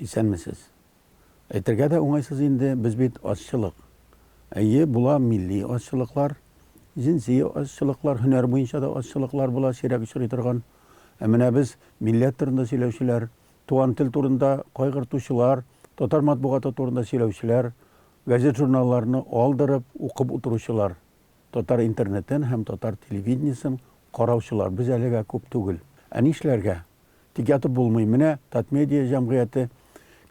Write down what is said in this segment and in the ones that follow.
Исәнмесез. Әйтергә дә уңайсыз инде, без бит азчылык. Әйе, була милли азчылыклар, җенси азчылыклар, һөнәр буенча да азчылыклар була, сирәк очрый торган. Ә менә без, милләт турында сөйләүчеләр, туган тел турында кайгыртучылар, татар матбугаты турында сөйләүчеләр, газет-журналларны алдырып, укып утыручылар. Татар интернетын һәм татар телевидениесен караучылар без әлегә күп түгел. Ә нишләргә? Тик ятып булмый. Менә Татмедиа җәмгыяте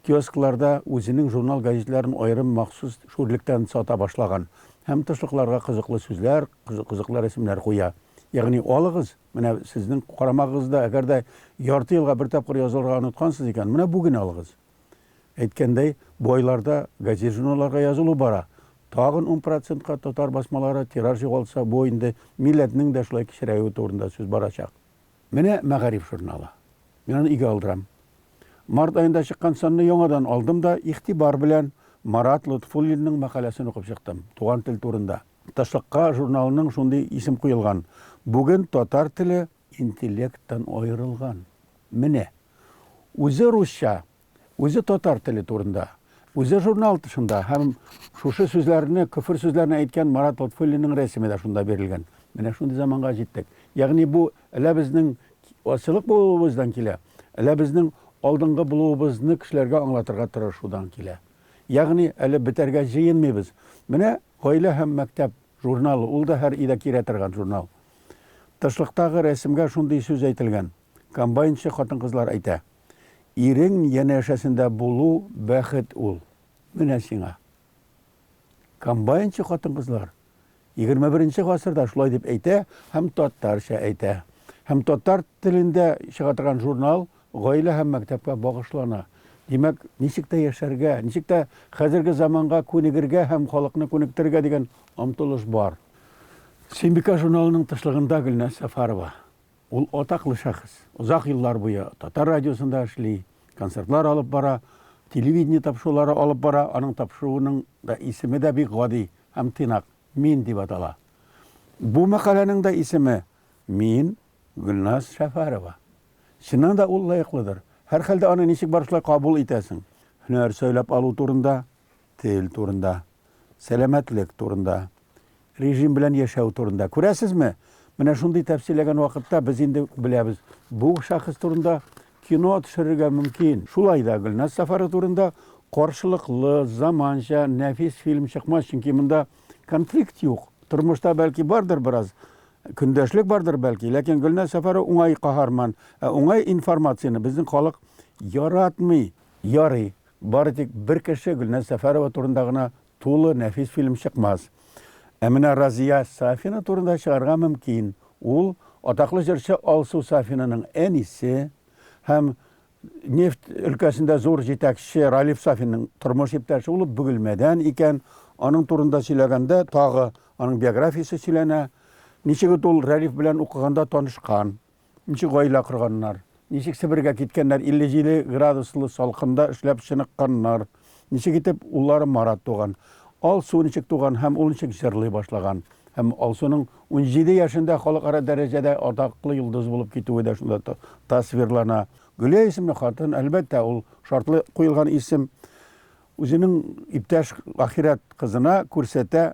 киоскларда үзенең журнал-гәҗитләрен аерым махсус шүрлектән сата башлаган һәм тышлыкларга кызыклы сүзләр, кызыклы рәсемнәр куя. Ягъни, алыгыз, менә сезнең карамагыгызда, әгәр дә ярты елга бер тапкыр язылырга оныткансыз икән, менә бүген алыгыз. Әйткәндәй, бу айларда газет-журналларга язылу бара. Тагын ун процентка татар басмалары тираж югалтса, бу инде милләтнең дә шулай кечерәюе турында сүз барачак. Менә Мәгариф журналы. Мин аны өйгә алдырам. Март аенда чыккан санны яңадан алдым да, игътибар белән Марат Лотфуллинның мәкаләсен укып чыктым, туган тел турында. Ташлыкка журналының шундый исем куелган, бүген татар теле Интеллекттан аерылган. Менә. Үзе русча, үзе татар теле турында, үзе журнал тышында һәм шушы сүзләрне, көфер сүзләрне әйткән Марат Лотфуллинның рәсеме дә шунда бирелгән. Менә шундый заманга җиттек. Ягъни бу әллә безнең азчылык булуыбыздан килә, әллә безнең алдынгы булуыбызны кешеләргә аңлатырга тырышудан килә. Ягъни әле бетәргә җыенмыйбыз. Менә Гаилә һәм мәктәп журналы, ул да һәр өйдә кирә торган журнал. Тышлыктагы рәсемгә шундый сүз әйтелгән, комбайнчы хатын-кызлар әйтә, Ирең янәшәсендә булу, бәхет ул. Менә сиңа. Комбайнчы хатын-кызлар егерме беренче гасырда шулай дип әйтә һәм татарча әйтә. Һәм татар телендә чыга торган журнал гаилә һәм мәктәпкә багышлана. Димәк, ничек тә яшәргә, ничек тә хәзерге заманга күнегергә һәм халыкны күнектерергә дигән омтылыш бар. Сөембикә журналының тышлыгында Гөлназ Сәфарова. Ул атаклы шәхес. Озак еллар буе Татар радиосында эшли, концертлар алып бара, телевидение тапшырулары алып бара, аның тапшыруының да исеме дә бик гади һәм тыйнак, Мин дип атала. Бу мәкаләнең дә исеме, Мин, Гөлназ Шәфәрова. Чыннан да ул лаеклыдыр. Һәрхәлдә аны ничек бар шулай кабул итәсең? Һөнәр сайлап алу турында Тел турында, сәламәтлек турында, режим белән яшәү турында. Күрәсезме? Менә шундый тәфсилләгән вакытта без инде беләбез, бу шәхес турында кино төшерергә мөмкин. Шулай да Гөлназ сафары турында каршылыклы, заманча, нәфис фильм чыкмас, чөнки монда конфликт юк. Тормышта бәлки бардыр бераз, көндәшлек бардыр бәлки, ләкин Гөлназ сафары уңай каһарман, ә уңай информацияне безнең халык яратмый. Ярый, Бары тик бер кеше Гөлназ Сәфәрова турында гына тулы нәфис фильм чыкмас. Ә менә Разия Сафина турында чыгарга мөмкин. Ул, атаклы җырчы Алсу Сафинаның әнисе һәм нефть өлкәсендә зур җитәкче Ралиф Сафинның тормыш иптәше. Ул Бөгелмәдән икән. Аның турында сөйләгәндә, тагы аның биографиясе сөйләнә. Ничек итеп ул Рәлиф белән укыганда танышкан? Ничек гаилә корганнар? Ничек Себергә киткәннәр, 57 градуслы салкында эшләп чыныкканнар? Ничек итеп уллары Марат туган? Алсу ничек туган һәм ул ничек җырлый башлаган? Һәм Алсуның унҗиде яшендә халыкара дәрәҗәдә атаклы йолдыз булып китүе дә шунда тасвирлана. Гөлия исемле хатын, әлбәттә, ул шартлы куелган исем, үзенең иптәш ахирәт кызына күрсәтә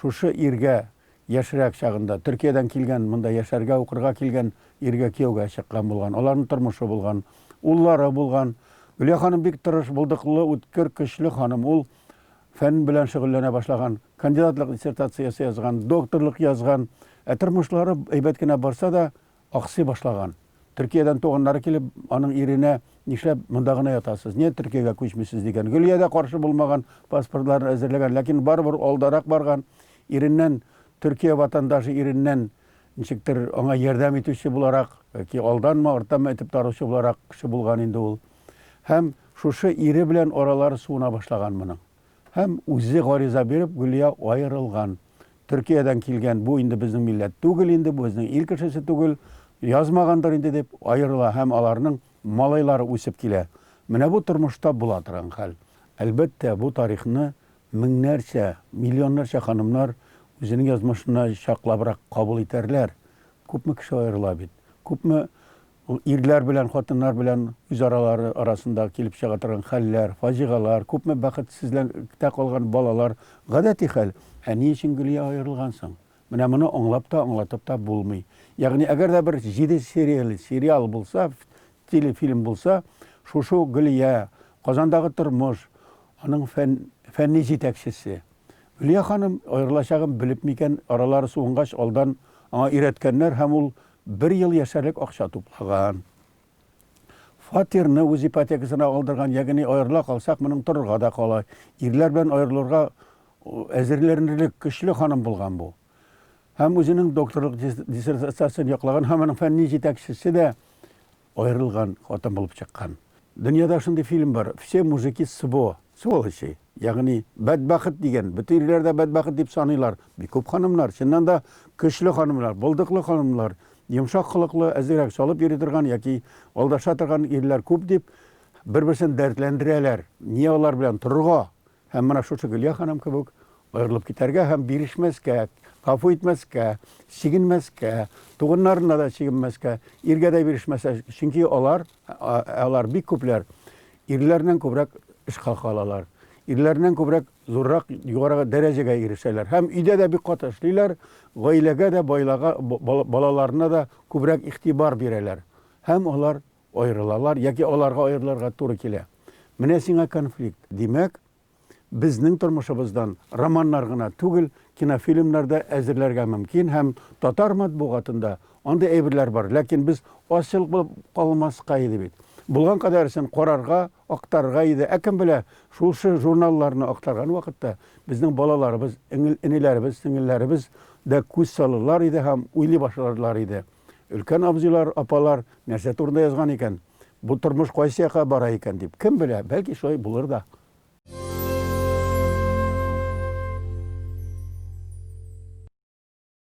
Шушы иргә яшьрәк чагында Төркиядән килгән, монда яшәргә, укырга килгән иргә кияүгә чыккан булган. Аларның тормышы булган. Уллары булган. Гөлия ханым бик тырыш, булдыклы, үткер, көчле ханым. Ул фән белән шөгыльләнә башлаган. Кандидатлык диссертациясе язган, докторлык язган. Ә тормышлары әйбәт кенә барса да, аксый башлаган. Төркиядән туганнары килеп, аның иренә, Нишләп монда гына ятасыз? Нигә Төркиягә күчмисез? дигән. Гөлия дә каршы булмаган, паспортларын әзерләгән, ләкин барыбер алдарак барган. Иреннән, Төркия ватандашы иреннән ничектер аңа ярдәм итүче буларак, яки алданмы, арттанмы этеп таручы буларак кеше булган инде ул. Һәм шушы ире белән аралары суына башлаган моның. Һәм үзе гариза биреп, Гөлия аерылган. Төркиядән килгән, бу инде безнең милләт түгел инде, бу безнең ил кешесе түгел, язмагандыр инде дип, аерыла һәм аларның малайлары үсеп килә. Менә бу тормышта була торган хәл. Әлбәттә, бу тарихны меңнәрчә, миллионнарча ханымнар үзенең язмышына чаклабрак кабул итәрләр. Күпме кеше аерыла бит. Күпме Ул ирләр белән хатыннар белән үзаралары арасында килеп чыга торган хәлләр, фаҗигалар, күпме бәхетсезлектә калган балалар, гадәти хәл. Ә ни өчен Гөлия аерылган соң? Менә моны аңлап та, аңлатып та булмый. Ягъни, әгәр дә бер җиде серияле сериал булса, телефильм булса, шушы ук Гөлия, Казандагы тормыш, аның фән, фәнни җитәкчесе. Гөлия ханым аерылачагын белеп микән, аралары суынгач, алдан аңа өйрәткәннәр һәм ул Бер ел яшәрлек акча туплаган. Фатирны үз ипотекасына алдырган, ягъни аерыла калсак, моның торырга да кала. Ирләр белән аерылырга әзерләнерлек көчле ханым булган бу. Һәм үзенең докторлык диссертациясен яклаган, һәм аның фәнни җитәкчесе дә аерылган хатын булып чыккан. Дөньяда шундый фильм бар, Все мужики сво, сволочи, ягъни бәдбәхет дигән, бөтен ирләр дә бәдбәхет дип саныйлар. Бик күп ханымнар, чыннан да көчле ханымнар, булдыклы ханымнар, йомшак холыклы, әзрәк салып йөри торган яки алдаша торган ирләр күп дип, бер-берсен дәртләндерәләр. Ни алар белән торырга? Һәм менә шушы Гөлия ханым кебек аерылып китәргә һәм бирешмәскә, гафу итмәскә, чигенмәскә, туганнарына да чигенмәскә, иргә дә бирешмәскә, чөнки алар, алар бик күпләр ирләрнең күбрәк эш хака алалар. Ирләрнең күбрәк зуррак югарыга дәрәҗәгә ирешәләр һәм өйдә дә бик каты эшлиләр, гаиләгә дә, байлага, балаларына да күбрәк игътибар бирәләр. Һәм алар Аерылалар яки аларга аерылырга туры килә. Менә сиңа конфликт. Димәк, безнең тормышыбыздан романнар гына түгел, кинофильмнар да әзерләргә мөмкин һәм татар матбугатында андый әйберләр бар. Ләкин без азчылык булып калмаска иде бит. Булган кадәресен карарга, актарырга иде. Ә кем белә, шушы журналларны актарган вакытта безнең балаларыбыз, энеләребез, сеңелләребез дә күз салырлар иде һәм уйлый башларлар иде. Өлкән абзыйлар, апалар нәрсә турында язган икән? Бу тормыш кайсы якка бара икән дип. Кем белә, бәлки шулай булыр да.